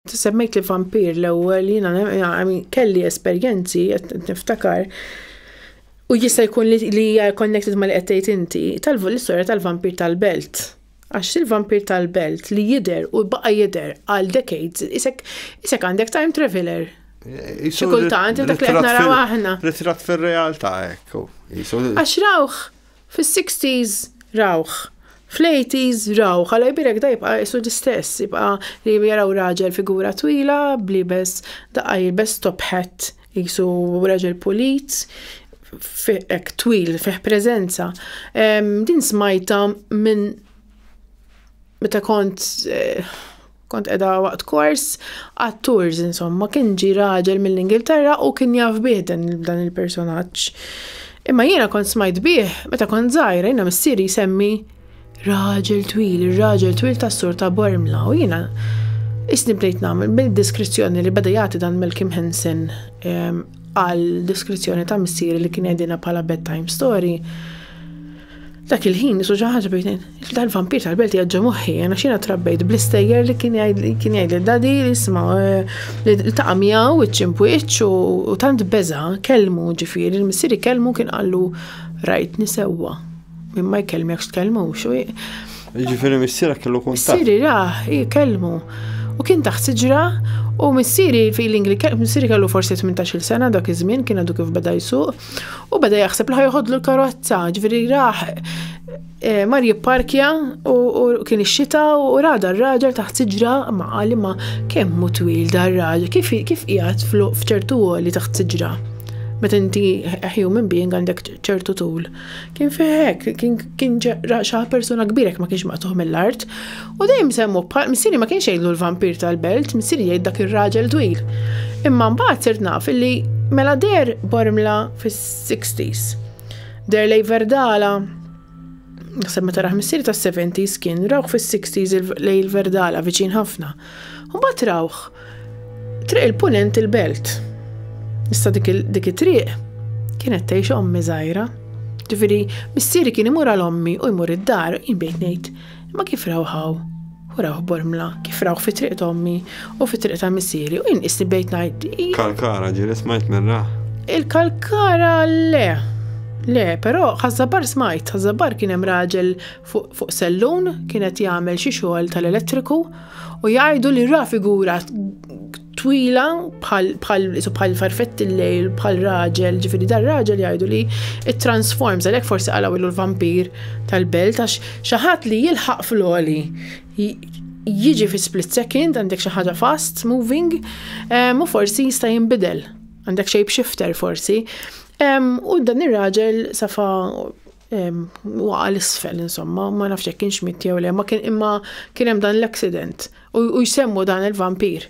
Semmejt li vampir l-ewwel jiena kelli esperjenzi qed niftakar u jista' jkun li hija connected ma li qed tgħid inti tal-istorja tal-vampir tal-belt. Għax il-vampir tal-belt li jidher u baqa' jidher għal decades isek isek għandek time traveler. Xi kultant dak li qed naraw aħna. Ritratt fir-realtà hekk. Għax rawh Fis-sixties rawh. Fl-eighties rawh. Alla jbierek da jibqa' qisu l-istess. Jibqa' li jaraw raġel figura twila b'liebes daqqa jilbes top hat qisu raġel pulit hekk twil fih preżenza. Din smajtha minn meta kont Kont qiegħda waqt kors għat-tours insomma, kien ġie raġel mill-Ingilterra u kien jaf bih dan il-personaġġ. Imma jiena kont smajt bih meta kont żgħira jiena missieri jsemmi raġel twil, ir-raġel twil tas-sur ta' Bormla u jiena isni bdejt nagħmel bil-diskrizzjoni li beda jagħti dan Malcolm Henson ehm, għal diskrizzjoni ta' missieri li kien għedina bħala bedtime story. Dak il-ħin nisu xi ħaġa bejn dal-vampir tal-belt jaġġa moħħi, għana xina trabbejt bl-istejjer li kien jgħid li dadi jisma eh, li taqa' miegħu iċ-ċimpwiċ u tant beża kelmu ġifieri il-missieri kelmu kien qallu rajt nisewwa. Minn ma jkellmek x'tkellmu xu. Ġifieri missiera kellu kun. Missieri ra, jkellmu. U kien taħt siġra u missieri feeling li missieri kellu forsi 18-il sena dak iż-żmien kien għadu kif beda jsuq. U beda jaħseb li ħajħodlu l-karozza, ġviri raħ eh, mar jipparkja u kien ix-xita u rada r-raġel taħt siġra ma qali ma kemm mu twil dar raġel kif kif qiegħed f'ċertu għoli taħt siġra. Meta inti human being għandek ċertu tul. Kien fih hekk, kien kien ġeqra xaħ persuna kbir hekk ma kienx maqtuħ mill-art. U dejjem semmu bħal missieri ma kienx jgħidlu l-vampir tal-belt, missieri jgħid dak ir-raġel twil. Imma mbagħad sirt naf illi mela deher Bormla fis-60s. Deher lejn Verdala, naħseb meta rah missieri tas-70s kien rawh fis-60s lejn Verdala viċin ħafna. U mbagħad rawh triq il-punent il-belt. Issa dik it-triq kienet tgħix ommi żgħira. Ġifieri missieri kien imur għal ommi u jmur id-dar, jien bdejt ngħid, ma kif rawħaw? U rawh bormla, kif rawh fi triq ommi u fi triq ta' missieri u jien qisni bdejt ngħid. Kalkara ġieli smajt minn rah. Il-kalkara le. Le, però ħażabar smajt, ħażabar kien hemm raġel fuq sellun kien qed jagħmel xi xogħol tal-elettriku u jgħidu li ra figura twila bħal farfett il-lejl bħal raġel, ġifieri dar raġel jgħidu li it-transforms għalhekk forsi qalgħu ilu l-vampir tal-belt għax xi ħadd li jilħaq fl-oli jiġi fi split second għandek xi ħaġa fast moving u forsi jista' jinbidel għandek shape shifter forsi. U dan ir-raġel safa waqa l-isfel, insomma, ma nafx jekk kienx mit jew le, ma kien imma kien hemm dan l-accident u jsemmu dan il-vampir.